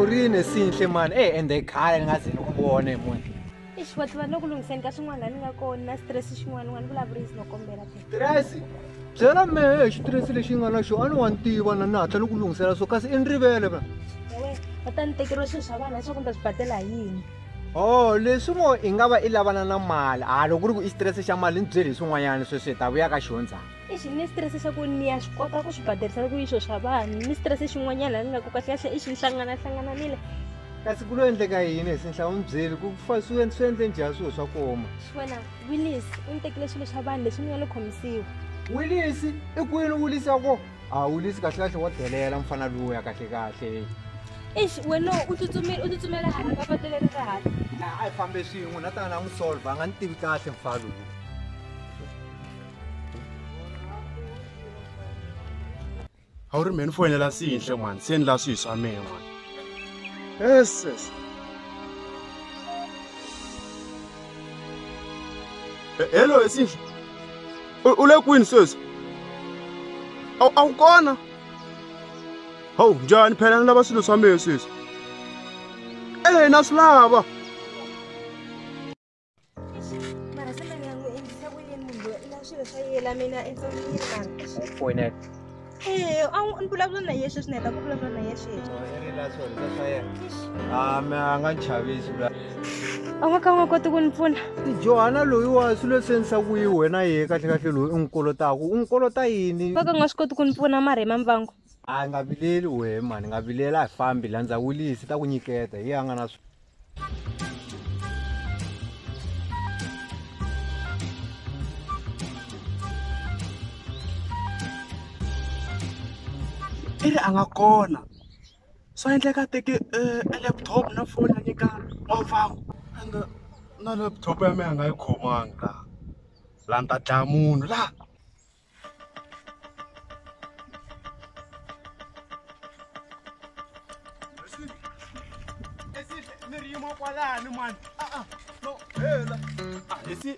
u ri nesinhle mani e ende khale ni nga ze ni ku vona hi munhu ixi vatliva ni ku lunghiseni ka swin'wana la ni nga kona na stress xin'wana n'wana vulavurisi no kombela tirasi byela mehe hi xitirhisi lexi nga na xo a ni wa ni tiva na ni hatla ni ku lunghisela so kasi i ni rivele va va ta ni tekeriwa swilo swa vana leswaku ni ta swi badela hi yini o leswi mo i nga va i lavana na mali a loko ku ri ku i xitirese xa mali ni byeli hi swin'wanyana sweswi hi ta vuya ka xihondzana ixi ni xitirese xa ku ni ya swi kota ku swi baderisela ku yiswo swa vanhu ni xitirese xin'wanyana ni nga ku kahlekahle i xi ni hlanganahlangananile kasi ku lo endleka yini hi sinhla u ni byeli ku fa swi swi endle njhani swilo swa koma wena willis u ni tekile swilo swa vanhu leswi ni nga lo khomisiwa willis i kwini willis ya ko a willis kahlekahle wa delela mfana lowu ya kahlekahle ixi wena u tsutsumile u tsutsumela hala ka patu leri ra hala a yi fambe swin'we na tana na n'wi solva a nga ni tivi kahle mfana lowu a wu ri mhe ni foyinela siyinhle mani se ni la swihi swa mehe mani eses hello esiyinhle u le kwini sweswi a wu kona hawu njhani phela ni lava swilo swa mehe sweswi ehe na swi lava a nga ka u nga koti ku ni pfuna johana loyiwa swilo leswi endlisa ku yi wena ye kahlekahle loyi u n'wi kolotaku u n'wi kolota yini va ka nga swi koti ku ni pfuna mara hi mambangu a nga vileli wehe mani nga vilela hi fambi landza wilisi ta ku nyiketa hi a nga na i ri a nga kona swa endleka teke eh, e laptop na foni ya nyika n'wavaku and eh, na laptop ya mina a nga yi khomanga laha la ni ta dlaya munhu laha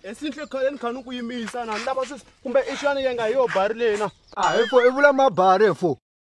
esinhle khale ni kha ni ku yimisa na ni lava sweswi kumbe i xana yi nga hi yo bari leyi na a hi fo i vula mabari fo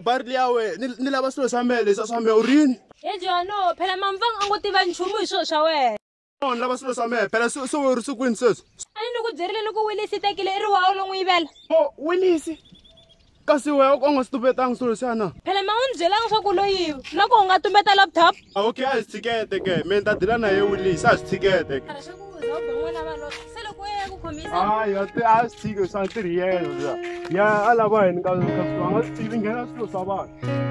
barili ya we ni lava swilo swa mehe leswi a swa mehe u rini hejo yano phela mamvanga a ngo tiva nchumu hi swilo swa wena onhi lava swilo swa mehe phela swi ri swi kwini sweswi a ni ni ku byerile loko wilisi i tekile i ri wawo lo n'wi yivela o wilisi kasi wehe u ka u nga swi tumbetanga swilo leswiya na phela ma u ni byelanga leswaku u lo yiva loko u nga tumbeta laptop a okay a hi swi tshikete ke me ni ta dila na ye wilisi a hi swi tshikete ke a swi tshiki swa ntirhi yena ya a lava hini ka swi anga swi tivi nghena swilo swa vanhu